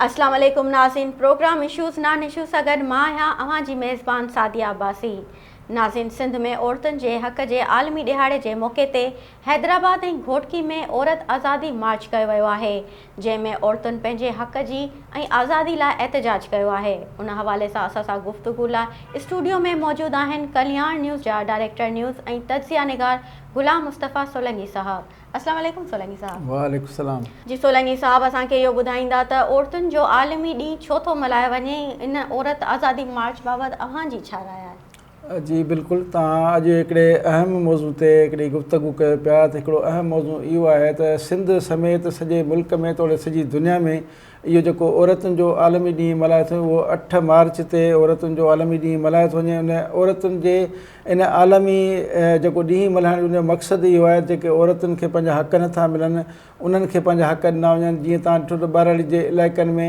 اسلام عليڪم ناظرين پروگرام اشوز نان اشوز سان گڏ مان آهيان اوهان جي ميزبان سعديه عباسي ناظرين سنڌ ۾ عورتن جي حق جي عالمي ڏهاڙي جي موقعي تي حيدرآباد ۽ گهوٽڪي ۾ عورت آزادي مارچ ڪيو ويو آهي جنهن ۾ عورتن پنهنجي حق جي ۽ آزادي لاء احتجاج ڪيو آهي ان حوالي سان اسان سان گفتگو لاء اسٽوڊيو ۾ موجود آهن ڪلياڻ نيوز جا ڊائريڪٽر نيوز ۽ تجزيه نگار غلام مصطفي سولنگي صاحب اسلام عليڪم سولنگي صاحب. وعليڪم السلام. جي سولنگي صاحب اسان کي اهو ٻڌائيندا ته عورتن جو عالمي ڏينهن ڇو ٿو ملهايو وڃي ۽ ان عورت آزادي مارچ بابت اوهان جي ڇا راء آهي. جي بلڪل توهان اڄ هڪڙي اهم موضوع تي هڪڙي گفتگو ڪيو پيا ته هڪڙو اهم موضوع اهو آهي ته سنڌ سميت سڄي ملڪ ۾ توڙي سڄي دنيا ۾ اهو جيڪو عورتن جو عالمي ڏينهن ملهايو ٿو اهو اٺ مارچ تي عورتن جو عالمي ڏينهن ملهايو ٿو وڃي ان عورتن جي ان عالمي جيڪو ڏينهن ملهائڻ جو مقصد اهو آهي جيڪي عورتن کي پنهنجا حق نٿا ملن انهن کي پنهنجا حق ڏنا وڃن جيئن تان ڏٺو ته ٻهراڙي جي علائقن ۾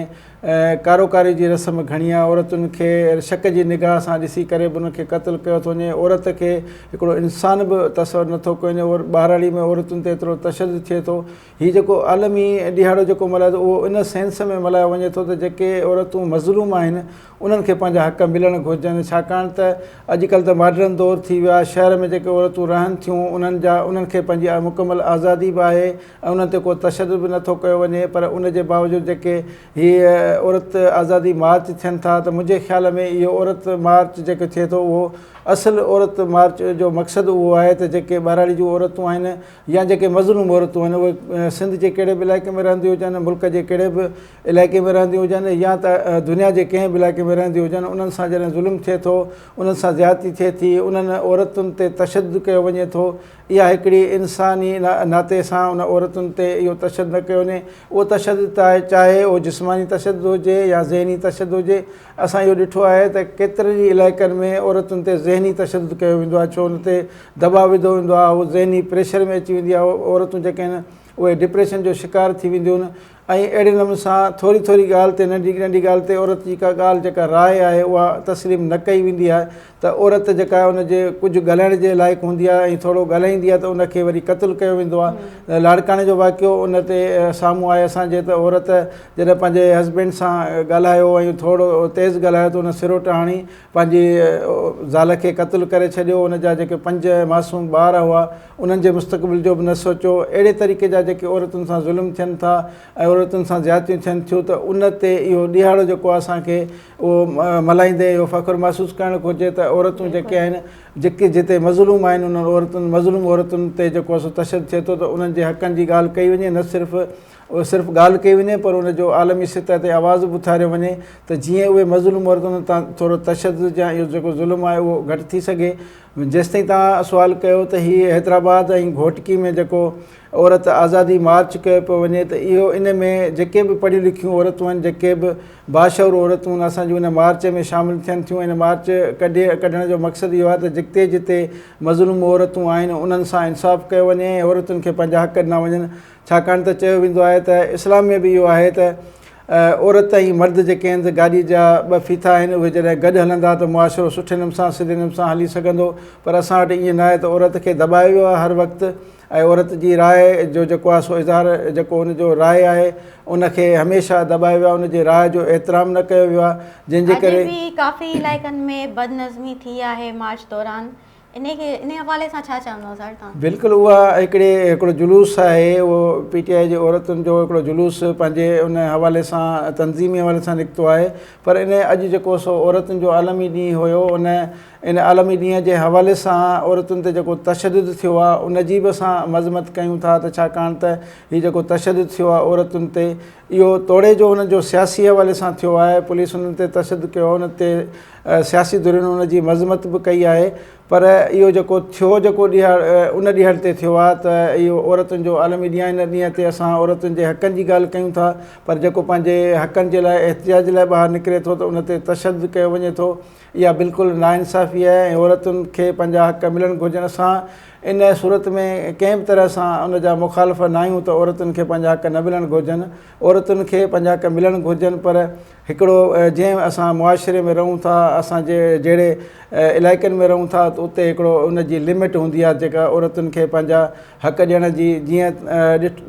ڪاروڪاري جي رسم گهڻي آهي عورتن کي شڪ جي نگاهه سان ڏسي ڪري به انهن کي قتل ڪيو ٿو وڃي عورت کي هڪڙو انسان به تصور نٿو ڪيو وڃي ٻهراڙي ۾ عورتن تي ايترو تشدد ٿئي ٿو هي جيڪو عالمي ڏهاڙو جيڪو ملهايو ٿو اهو ان سينس ۾ ملهايو وڃي ٿو ته جيڪي عورتون مظلوم آهن انهن کي پنهنجا حق ملڻ گهرجن ڇاڪاڻ ته اڄ ڪلهه ته ماڊرن دور ٿي ويو آهي شهر ۾ جيڪي عورتون رهن ٿيون انهن جا انهن کي پنهنجي مڪمل آزادي به آهي ۽ انهن تي ڪو تشدد به نٿو ڪيو وڃي پر ان جي باوجود جيڪي هي عورت آزادي مارچ ٿين ٿا ته منهنجي خيال ۾ اهو عورت مارچ جيڪو ٿئي ٿو اهو اصل عورت مارچ جو مقصد اهو آهي ته جيڪي ٻهراڙي جون عورتون آهن يا جيڪي مظلوم عورتون آهن اهي سنڌ جي ڪهڙي به علائقي ۾ رهنديون هجن ملڪ جي ڪهڙي به علائقي ۾ رهنديون هجن يا ته دنيا جي ڪنهن به علائقي ۾ رهنديون هجن انهن سان جڏهن ظلم ٿئي ٿو انهن سان زيادتي ٿئي ٿي انهن عورتن تي تشدد ڪيو وڃي ٿو اها هڪڙي انساني ناتي سان ان عورتن تي اهو تشدد نه ڪيو وڃي اهو تشدد چاهي اهو جسماني تشدد هجي يا ذهني تشدد هجي اسان اهو ڏٺو آهي ته ڪيترن ئي علائقن ۾ عورتن تي ذهني تشدد ڪيو ويندو آهي ڇو ان تي دٻاء وڌو ويندو آهي هو ذهني پريشر ۾ اچي ويندي آهي عورتون جيڪي آهن اهي ڊپريشن جو شڪار ٿي وينديون آهن ۽ اهڙي نموني سان ٿوري ٿوري ڳالهه تي ننڍي ننڍي ڳالهه تي عورت جي ڪا ڳالهه جيڪا راء آهي اها تسليم نه ڪئي ويندي آهي ته عورت جيڪا آهي ان جي ڪجهه ڳالهائڻ جي لائق هوندي آهي ۽ ٿورو ڳالهائيندي آهي ته ان کي وري قتل ڪيو ويندو آهي لاڙڪاڻي جو واقعو ان تي سامهون آهي اسان جي ته عورت جڏهن پنهنجي هسبينڊ سان ڳالهايو ۽ ٿورو تيز ڳالهايو ته ان سروٽ هڻي پنهنجي زال کي قتل ڪري ڇڏيو ان جا جيڪي پنج معصوم ٻار هئا انهن جي مستقبل جو به نه سوچيو اهڙي طريقي جا جيڪي عورتن سان ظلم ٿين ٿا ۽ عورتن سان زيادتيون ٿين ٿيون ته ان تي اهو ڏيهاڙو جيڪو آهي اسان کي اهو ملهائيندي اهو فخر محسوس ڪرڻ گهرجي ته عورتون جيڪي آهن جيڪي جتي مظلوم آهن انهن عورتن مظلوم عورتن تي جيڪو اسو تشدد ٿئي ٿو ته انهن جي حقن جي ڳالهه ڪئي وڃي نه صرف صرف ڳالهه ڪئي وڃي پر ان جو عالمي سطح تي آواز به اٿاريو وڃي ته جيئن اهي مظلوم عورتن تان ٿورو تشدد يا اهو جيڪو ظلم آهي اهو گهٽ ٿي سگهي جيستائين تان سوال ڪيو ته هي حيدرآباد ۽ گهوٽڪي ۾ جيڪو عورت آزادي مارچ ڪيو پيو وڃي ته اهو ان ۾ جيڪي به پڙهيون لکيون عورتون آهن جيڪي به باشعور عورتون آهن اسان جون ان مارچ ۾ شامل ٿين ٿيون ان مارچ ڪڍي ڪڍڻ جو مقصد اهو آهي ته جتي جتي مظلوم عورتون آهن انهن سان انصاف ڪيو وڃي ۽ عورتن کي پنهنجا حق ڏنا وڃن ڇاڪاڻ ته چيو ويندو آهي ته اسلام ۾ به اهو آهي ته عورت ۽ مرد جيڪي آهن ته گاڏي جا ٻه ڦيٿا آهن اهي جڏهن گڏ هلندا ته معاشرو سٺي نم سان سڌي نم سان هلي سگهندو پر اسان وٽ ائين نه آهي ته عورت کي دٻايو ويو آهي هر وقت ۽ عورت جي راء جو جيڪو آهي سو اظهار جيڪو ان جو راء آهي ان کي هميشه دٻايو ويو آهي ان جي راء جو احترام نه ڪيو ويو آهي جنهن جي ڪري اڄ به ڪافي علائقن ۾ بد نظمي ٿي آهي مارچ دوران انهي کي انهي حوالي سان ڇا چوندو سر توهان. بلڪل اها هڪڙي هڪڙو جلوس آهي اهو پي ٽي آئي جي عورتن جو هڪڙو جلوس پنهنجي ان حوالي سان تنظيمي حوالي سان نڪتو آهي پر انهي اڄ جيڪو سو عورتن جو عالمي ڏينهن هيو ان ان عالمي ڏينهن جي حوالي سان عورتن تي جيڪو تشدد ٿيو آهي ان جي به اسان مذمت ڪيون ٿا ته ڇاڪاڻ ته هي جيڪو تشدد ٿيو آهي عورتن تي اهو توڙي جو انهن جو سياسي حوالي سان ٿيو آهي پوليس انهن تي تشدد ڪيو ان تي سياسي ڌرين ان جي مذمت به ڪئي آهي پر اهو جيڪو ٿيو جيڪو ڏيهاڙ ان ڏيهڙ تي ٿيو آهي ته اهو عورتن جو عالمي ڏينهن آهي ان ڏينهن تي اسان عورتن جي حقن جي ڳالهه ڪيون ٿا پر جيڪو پنهنجي حقن جي لاء احتجاج لاء ٻاهر نڪري ٿو ته ان تي تشدد ڪيو وڃي ٿو اها بلڪل ناانصافي آهي ۽ عورتن کي پنهنجا حق ملڻ گهرجن اسان ان صورت ۾ ڪنهن به طرح سان ان جا مخالف ناهيون ته عورتن کي پنهنجا حق نه ملڻ گهرجن عورتن کي پنهنجا حق ملڻ گهرجن پر هڪڙو جنهن اسان معاشري ۾ رهون ٿا اسان جي جهڙي علائقن ۾ رهون ٿا ته اتي هڪڙو ان جي لمٽ هوندي آهي جيڪا عورتن کي پنهنجا حق ڏيڻ جي جيئن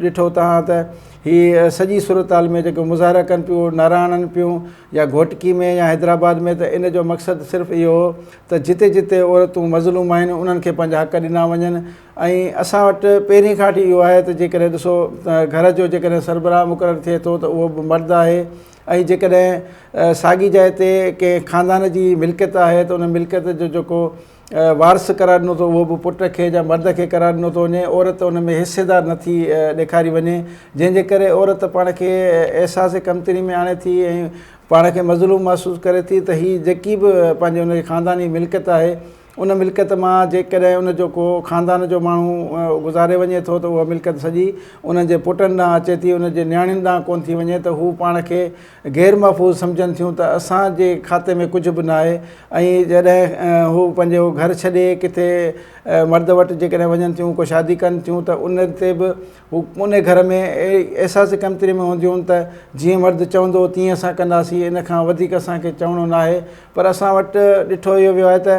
ڏٺو تهان ته هي سڄي صورتحال ۾ جيڪو مظاهرا ڪن پيون نعرا هڻن پيون يا گهوٽڪي ۾ يا حيدرآباد ۾ ته ان جو مقصد صرف اهو هو ته جتي جتي عورتون مظلوم آهن انهن کي پنهنجا حق ڏنا وڃن ۽ اسان وٽ پهرين کان وٺي اهو آهي ته جيڪڏهن ڏسو ته گهر جو جيڪڏهن سربراهه مقرر ٿئي ٿو ته اهو به مرد آهي ۽ جيڪڏهن ساڳي جاء تي ڪنهن خاندان جي ملڪيت آهي ته ان ملڪيت جو جيڪو وارث قرار ڏنو ٿو اهو به پٽ کي يا مرد کي قرار ڏنو ٿو وڃي عورت ان ۾ حصيدار نه ٿي ڏيکاري وڃي جنهن جي ڪري عورت پاڻ کي احساس ڪمتري ۾ آڻي ٿي ۽ پاڻ کي مظلوم محسوس ڪري ٿي ته هي جيڪي به پنهنجي ان جي خانداني ملڪيت آهي ان ملڪيت مان جيڪڏهن ان جو ڪو خاندان جو ماڻهو گذاري وڃي ٿو ته اها ملڪيت سڄي انهن جي پٽن ڏانهن اچي ٿي ان جي نياڻين ڏانهن ڪونه ٿي وڃي ته هو پاڻ کي غير محفوظ سمجهن ٿيون ته اسان جي کاتي ۾ ڪجهه به ناهي ۽ جڏهن هو پنهنجو گهر ڇڏي ڪٿي مرد وٽ جيڪڏهن وڃن ٿيون ڪو شادي ڪن ٿيون ته ان تي به هو ان گهر ۾ احساس ڪمتري ۾ هونديون آهن ته جيئن مرد چوندو تيئن اسان ڪنداسين ان کان وڌيڪ اسان کي چوڻو ناهي پر اسان وٽ ڏٺو اهو ويو آهي ته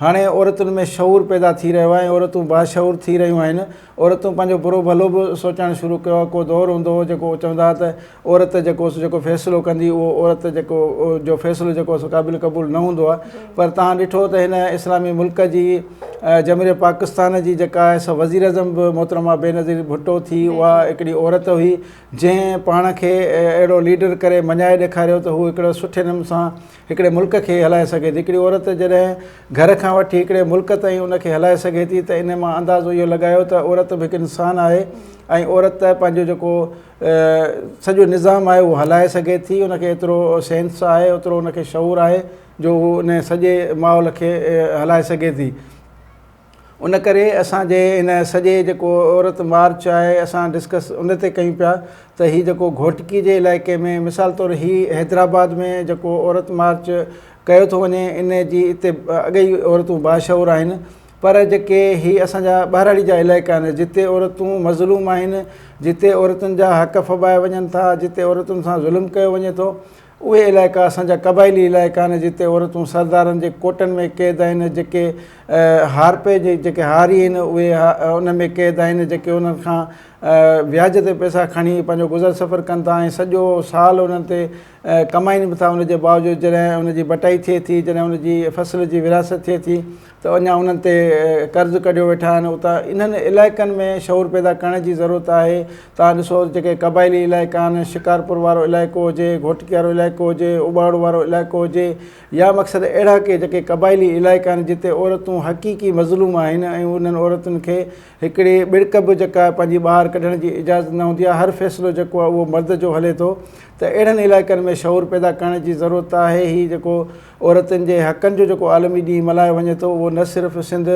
هاڻي عورتن ۾ شعور پيدا ٿي رهيو آهي ۽ عورتون باشعور ٿي رهيون آهن. عورتون پنهنجو برو ڀلو به سوچڻ شروع ڪيو آهي. ڪو دور هوندو هو جيڪو چوندا هئا ته عورت جيڪو سو جيڪو فيصلو ڪندي اهو عورت جيڪو جو فيصلو جيڪو سو قابل قبول نه هوندو آهي پر تهان ڏٺو ته هن اسلامي ملڪ جي جمهوريه پاڪستان جي جيڪا آهي سا وزير اعظم به محترمه بينظير ڀٽو ٿي اها هڪڙي عورت هئي جنهن پاڻ کي اهڙو ليڊر ڪري مڃائي ڏيکاريو ته هو هڪڙو سٺي نمون سان هڪڙي ملڪ کي هلائي سگهي ٿي. هڪڙي عورت جڏهن گهر کان وٺي هڪڙي ملڪ تائين ان کي هلائي سگهي ٿي ته ان مان اندازو اهو لڳايو ته عورت به هڪ انسان آهي ۽ عورت پنهنجو جيڪو سڄو نظام آهي اهو هلائي سگهي ٿي ان کي ايترو سينس آهي اوترو ان کي شعور آهي جو هو ان سڄي ماحول کي هلائي سگهي ٿي. ان ڪري اسان جي ان سڄي جيڪو عورت مارچ آهي اسان ڊسڪس ان تي ڪيون پيا ته هي جيڪو گهوٽڪي جي علائقي ۾ مثال طور هي حيدرآباد ۾ جيڪو عورت مارچ ڪيو ٿو وڃي ان جي اتي اڳي ئي عورتون باشعور آهن پر جيڪي هي اسان جا ٻهراڙي جا علائقا آهن جتي عورتون مظلوم آهن جتي عورتن جا حق ڦٻايا وڃن ٿا جتي عورتن سان ظلم ڪيو وڃي ٿو اهي علائقا اسان جا قبائلي علائقا آهن جتي عورتون سردارن جي ڪوٽن ۾ قيد آهن جيڪي هارپي جي جيڪي هاري آهن اهي ان ۾ قيد آهن جيڪي انهن کان وياج تي پئسا کڻي پنهنجو گذر سفر ڪن ٿا ۽ سڄو سال انهن تي ڪمائن به ٿا ان جي باوجود جڏهن ان جي بٽائي ٿئي ٿي جڏهن ان جي فصل جي ورهاست ٿئي ٿي ته اڃا انهن تي قرض ڪڍيو ويٺا آهن ته انهن علائقن ۾ شعور پيدا ڪرڻ جي ضرورت آهي توهان ڏسو جيڪي قبائلي علائقا آهن شڪارپور وارو علائقو هجي گهوٽڪي وارو علائقو هجي اباڙو وارو علائقو هجي يا مقصد اهڙا ڪي جيڪي قبائلي علائقا آهن جتي عورتون حقيقي مظلوم آهن ۽ انهن عورتن کي هڪڙي ٻڙڪ به جيڪا پنهنجي ٻاهر ڪڍڻ جي اجازت نه هوندي آهي هر فيصلو جيڪو آهي اهو مرد جو هلي ٿو ته اهڙن علائقن ۾ شعور پيدا ڪرڻ جي ضرورت آهي هي جيڪو عورتن جي حقن جو جيڪو عالمي ڏينهن ملهايو وڃي ٿو اهو نه صرف سنڌ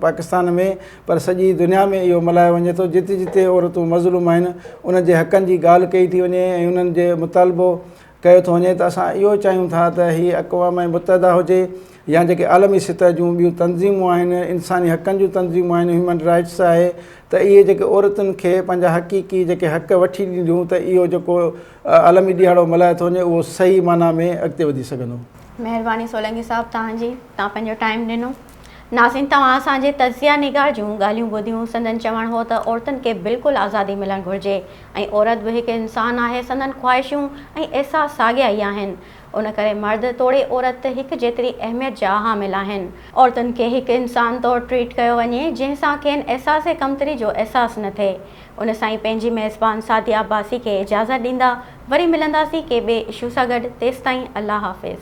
پاڪستان ۾ پر سڄي دنيا ۾ اهو ملهايو وڃي ٿو جتي جتي عورتون مظلوم آهن انهن جي حقن جي ڳالهه ڪئي ٿي وڃي ۽ انهن جي مطالبو ڪيو ٿو وڃي ته اسان اهو چاهيون ٿا ته هي اقوام متحده هجي يا جيڪي عالمي سطح جون ٻيون تنظيمون آهن انساني حقن جون تنظيمون آهن هيومن رائٽس آهي ته اهي جيڪي عورتن کي پنهنجا حقيقي جيڪي حق وٺي ڏينديون ته اهو جيڪو عالمي ڏيهاڙو ملهايو ٿو وڃي اهو صحيح معنيٰ ۾ اڳتي وڌي سگهندو. مهرباني سولنگي صاحب توهان جي توهان پنهنجو ٽائيم ڏنو ناظرين توهان اسان جي تجزيه نگار جون ڳالهيون ٻڌيون سندن چوڻ هو ته عورتن کي بلڪل آزادي ملڻ گهرجي ۽ عورت به هڪ انسان آهي سندن خواهشون ۽ احساس ساڳيا ئي آهن ان ڪري مرد توڙي عورت هڪ جيتري اهميت جا حامل آهن عورتن کي هڪ انسان طور ٽريٽ ڪيو وڃي جنهن سان کين احساس ڪمتري جو احساس نه ٿئي ان سائين پنهنجي ميزبان سعدي عباسي کي اجازت ڏيندا وري ملنداسين ڪي ٻئي اشو سان گڏ تيستائين الله حافظ.